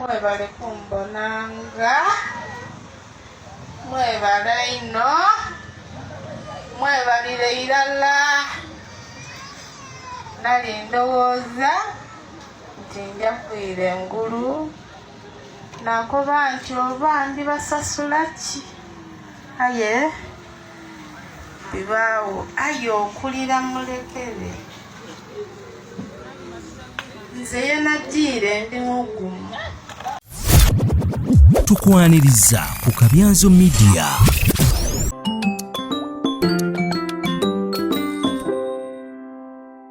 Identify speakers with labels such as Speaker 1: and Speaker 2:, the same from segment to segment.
Speaker 1: Mwebale kumbonanga, mwebale ino, mwebalire irala. Nali ndowooza nti nja kwira engulu nakoba nti oba ndibasasula ki aye bibaawo ayo okulira mulekere nze yenaddiire ndi mugumu
Speaker 2: tukwaniriza ku kabyanzo midiya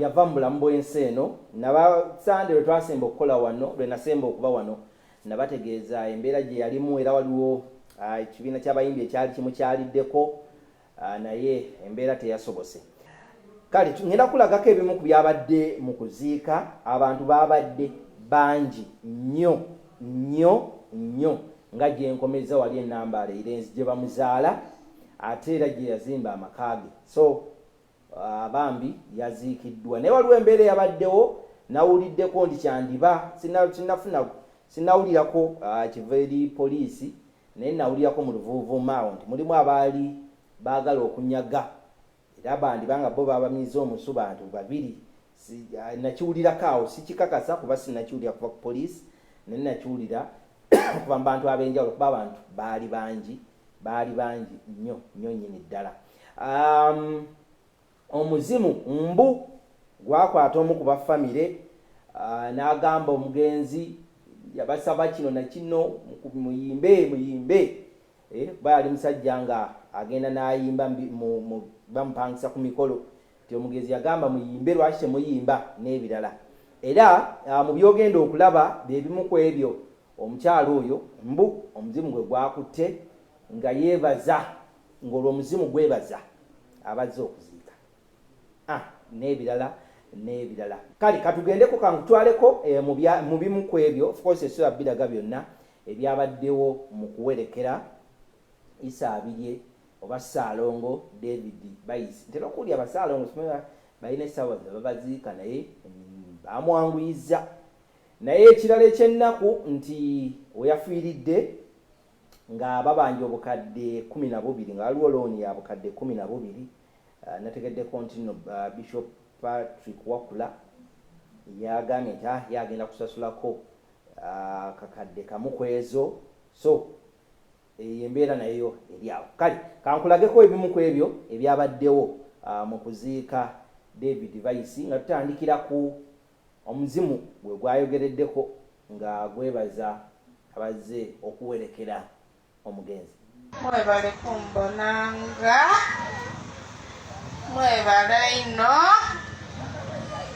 Speaker 3: yava mu bulamu bw'ensi eno naba sande lwe twasemba okukola wano lwe nasemba okuba wano nabategeeza embeera gye yalimu era waliwo ah, ekibiina ky'abayimbi ekyali kimukyaliddeko ah, naye embeera teyasobose kale ngenda kulagako ebimu ku byabadde mu kuziika abantu babadde bangi nnyo nnyo nnyo nga gyenkomeza wali enambaala eirenzi gye bamuzaala ate era gye yazimba amaka ge so Ah, bambi yaziikiddwa naye waliwo embeera eyabaddewo nawuliddeko nti kyandiba sinafuna sinawulirako ah, kiva eri poliisi naye nawulirako mu luvuuvuuma awo nti mulimu abaali baagala okunyaga era bandiba nga bo babamiiza omusu bantu babiri si, ah, nakiwulirako awo sikikakasa kuba sinakiwulira kuva ku poliisi naye nakiwulira kuva mu bantu ab'enjawulo kuba abantu baali bangi baali bangi nnyo nnyo nnyini ddala um, omuzimu mbu gwakwata omu ku bafamire uh, n'agamba omugenzi yabasaba kino nakino muyimbe muyimbe eh, bayali musajja nga agenda n'ayimba bamupangisa ku mikolo nti omugezi yagamba muyimbe lwaki temuyimba n'ebirala era ah, mu byogenda okulaba bye bimu ku ebyo omukyala oyo mbu omuzimu gwe gwakutte nga yeebaza ng'olwo omuzimu gwebaza abazze okuziika ah, n'ebirala n'ebirala kale katugendeko kankutwaleko eh, mu bimu ku ebyo ofcourse esula biraga byonna ebyabaddewo mu kuwerekera isa abirye Oba Ssaalongo David Bayizi. Ntera okuwulira Basaalongo simanyi balina essaawa ze babaziika naye baamwanguyizza. Naye ekirala eky'ennaku nti we yafiiridde nga babanja obukadde kumi na bubiri nga waliwo looni ya bukadde kumi na bubiri ah, nategeddeko nti no ah, Bishop Patrick Wakula yagambye nti ah, ye agenda kusasulako kakadde kamu ku ezo so Eyo embeera nayo eri awo. Kale kankulageko ebimu ku ebyo ebyabaddewo mu kuziika David Vaisi nga tutandikira ku omuzimu gwe gwayogereddeko nga gwebaza abazze okuwerekera omugenzi. Mwebale
Speaker 1: kumbonanga, mwebale ino,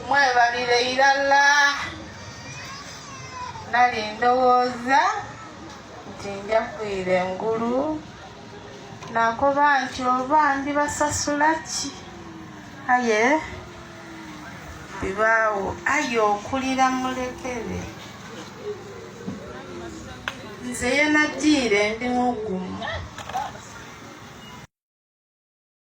Speaker 1: mwebalire irala nali ndowooza nti nja kuyira engulu nakoba nti oba ndibasasula ki aye bibaawo aye okulira mulekere nze yenajiire ndi mugumu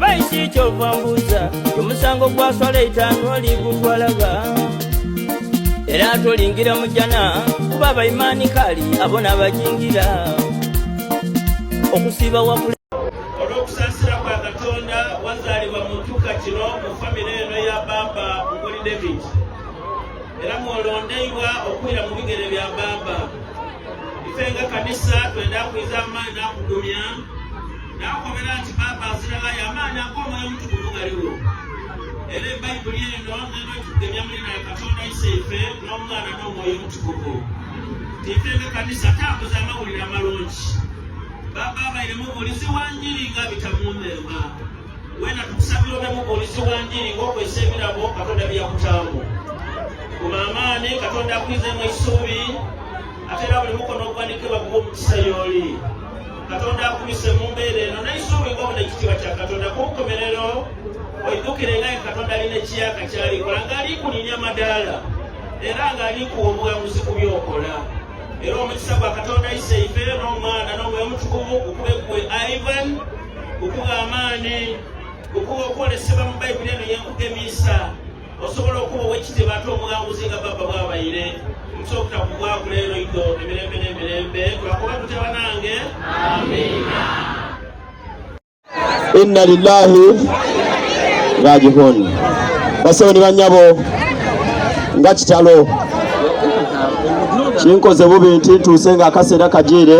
Speaker 4: baisi kyova mbuuza omusango gwaswala etaano oli gutwalaga era tolingira mu jjana kuba abayimaani kaali abona abajingira okusiiba wakula olondeibwa okwira mu bigere bya baaba ife nga kanisa twenda kwiza amaani nakugumya Nakobera nti Paapa asirala yamaanyi ag'omwoyo omutukuvu galiwo era ebayibuli eno nenwetugemya mulina katonda ise ife n'omwana n'omwoyo omutukuvu ife ngekanisa tambuza amawulire amalungi baba abaire mubuulizi wa njiri nga bitamuneema wena tukusabira obe mubuulizi wa njiri ng'okozesa ebirabo katonda byeyakutaamu kumaamaani katonda akwizeemu esuubi ate era buli mukono ogwanikibwa kuba omukisa yooli katonda akuyise mu mbeera eno naisuubinga obuna ekitiibwa kya katonda ku nkomerero oidukire nga ye katonda alina ekiyaka kyalikola ng'alikulinya madaala era ng'alikuwa obuwanguzi ku byokola era omukisa gwa katonda ayise ife n'omwana n'omwoyo mutukuvu gukube gwe ivan gukuba amaani gukuba okwolesebwa mu bayibuli eno yenkugemisa osobola okuba owekitibwa ate omuwanguzi nga baba bwabayire mukyokta kugwagula ero ido emirembe n'emirembe twakuba tutya banange amina
Speaker 5: inna lillahi rajihun basebo ni banyabo nga kitalo kinkoze bubi nti ntuuse nga akaseera kajiire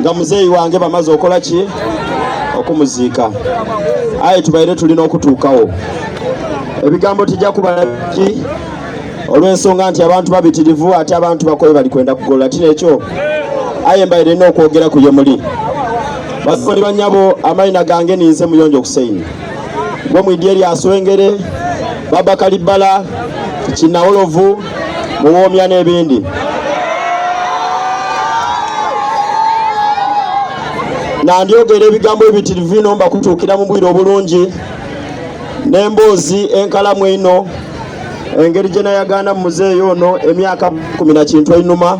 Speaker 5: nga muzeeyi wange bamaze okola ki okumuziika aye tubaire tulina okutuukawo ebigambo tijja kubalaki olw'ensonga nti abantu babitirivu ate abantu bakoye bali kwenda kugolola ti nekyo aye mbaire nina okwogera ku ye muli bakoni banyabo amayina gange ninze muyonjo okuseini gwe mwidye lyaswengere baba kalibbala kinawolovu muwoomya n'ebindi nandyogera ebigambo ebitirivu bino mbakutuukira mu bwire obulungi n'emboozi enkalamu eno engeri gye nayagaana mu muzeeyi ono emyaka kumi na kintu einuma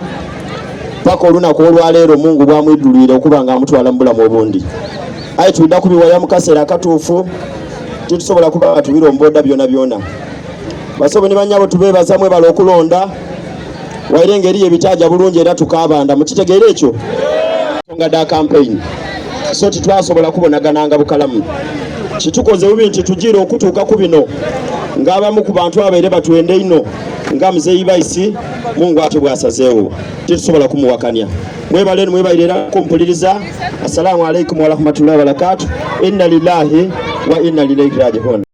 Speaker 5: paka olunaku olwaleero mungu bwamwidulwire okuba nga amutwala mu bulamu obundi aye tuida kubiwaya mu kaseera akatuufu titusobola kuba nga tubiromboda byona byona basobo ne banyabo tubebaza mwebala okulonda waire engeri yebitaja bulungi era tukabanda mukitegeera ekyo nga da campaign so titwasobola kubonagananga bukalamu kitukoze bubi nti tujiira okutuuka ku bino ng'abamu ku bantu abaire batwende ino nga muzeeyi baisi mungu atyo bwasazeewo tetusobola kumuwakanya mwebale nimwebalirera kumpuliriza assalamu alaikum warahmatullahi wabarakatu inna lillahi wa inna lilaihi rajiun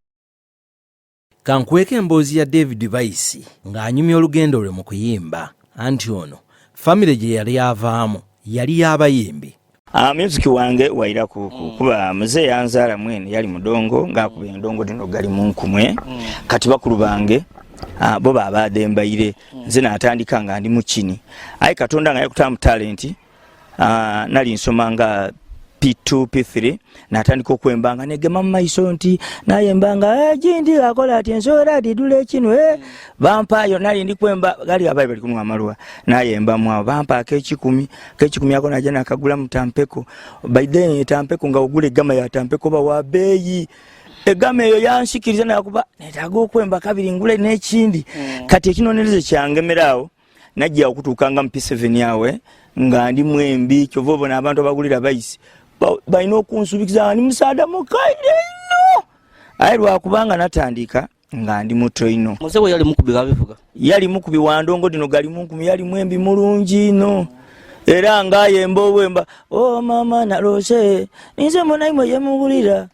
Speaker 2: Kankweka emboozi ya David Bayisi ng'anyumya olugendo lwe mu kuyimba anti ono famire gye yali avaamu yali y'abayimbi. Ah, music
Speaker 6: wange waira kuku mm. kuba mzee yanzala mwene yali mudongo ngakuba endongo dino gali munkumwe mm. kati bakulu bange ah, bo babaade mbaire mm. nze natandika nga ndi mukini aye katonda nga yakuta mu talenti Ah, nali nsoma nga P2 P3 natandika okwembanga negema mu maiso nti naye mbanga eh, gindi akola ati ensoera didule kino eh bampayo nali ndi kwemba gali abaye bali kumwa malwa naye mba mwa bampa ke kikumi ke kikumi yako na jana akagula mtampeko by then tampeko nga ogule gama ya tampeko ba wa beyi egama eyo yanshikiriza nakuba netago kwemba kabiri ngule nekindi mm. kati ekinonereze kyangemerawo najja okutuuka nga mupiseveni awe nga ndi mwembi kyova obona abantu abagulira bayisi balina okunsubikiza nga ndi musaada mukaire nno aye lwakubanga natandika nga ndi mutoino
Speaker 7: yali mukubi
Speaker 6: wandongo dino gali munkumi yali mwembi mulungi no era ngaye mbowemba o oh, mama nalose ninze munaimwe yemubulira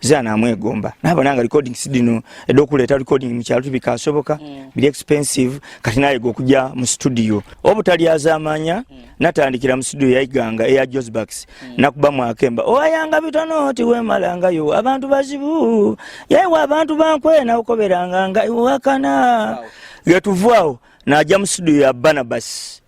Speaker 6: zira namwegomba naba nanga recording sidino edo kuleta recording mukyalu tibika asoboka mm. bili expensive kati naye go kuja mu studio obutali azamanya mm. natandikira mu studio yaiganga eya Josbax mm. nakuba mwakemba oyanga bitono ti we malanga yo abantu bazibu yewa abantu bankwe na ukoberanga nga wakana wow. yetuvwao na jamu studio ya Barnabas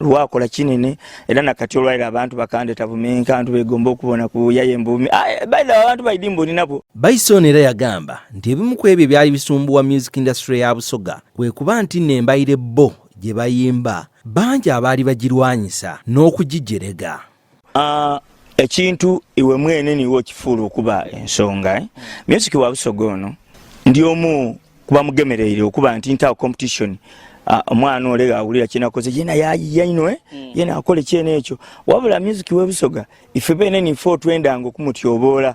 Speaker 6: lwakola kinene era nakati olwaira abantu bakandeta bumenka abantu begomba okubona ku yaye mbumi ah, eh, baidha abantu baidi mboni nabo Bison era yagamba
Speaker 2: nti ebimu ku ebyo byali bisumbuwa music industry ya Busoga kwe kuba nti nno embayire bo gye bayimba bangi abaali bagirwanyisa n'okugijerega Uh,
Speaker 6: ekintu iwe mwene niwe okifuula okuba ensonga eh? music wa busoga ono ndi omu kuba mugemereire okuba nti ntawo competition Ah, omwana ole awulira kyenakoze yena yayiya ino eh? mm. yena akole kyena ekyo wabula music webusoga ife bene ninfe otwendanga okumutyoboola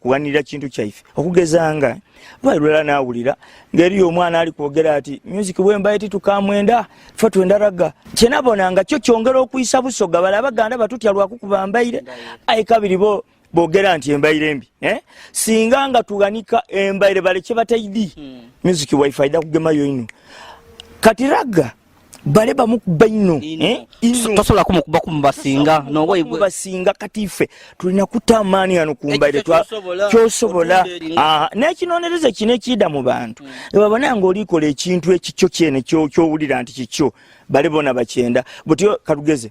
Speaker 6: kuwanirira kintu kyaife okugeza nga lwali lwala nawulira ngeri omwana ali kwogera ati music wembaye titukamwenda fe twenda raga kyenabona nga kyo kyongera okuyisa busoga bala abaganda batutya lwakukuba mbaire ayi kabiri bo bogera nti embaire embi eh? singa nga tuganika embaire balekye bataidi hmm. music waife aida kugemayo ino kati raga bale bamukuba nnyo eh? tosobola
Speaker 7: kumukuba kumubasinga nobasinga kati ffe
Speaker 6: tulina kuta amaani ano kumbaire kyosobola nekinonereza kino ekiida mu bantu hmm. ebabona nga olikola ekintu ekikyo kyene kyowulira nti kikyo bale bona bakyenda butyo kalugeze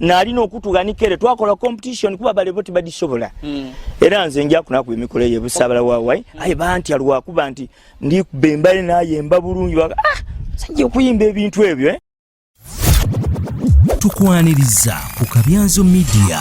Speaker 6: nalina okutuga ni kere twakola competition kuba bale boti badisobola mm. era nze nja kuna ku emikolo ye busabala wa wai mm. ayi banti alwa kuba nti ndi bembale na yemba bulungi wa ah sanje kuyimba ebintu ebyo eh tukwaniriza ku kabyanzo media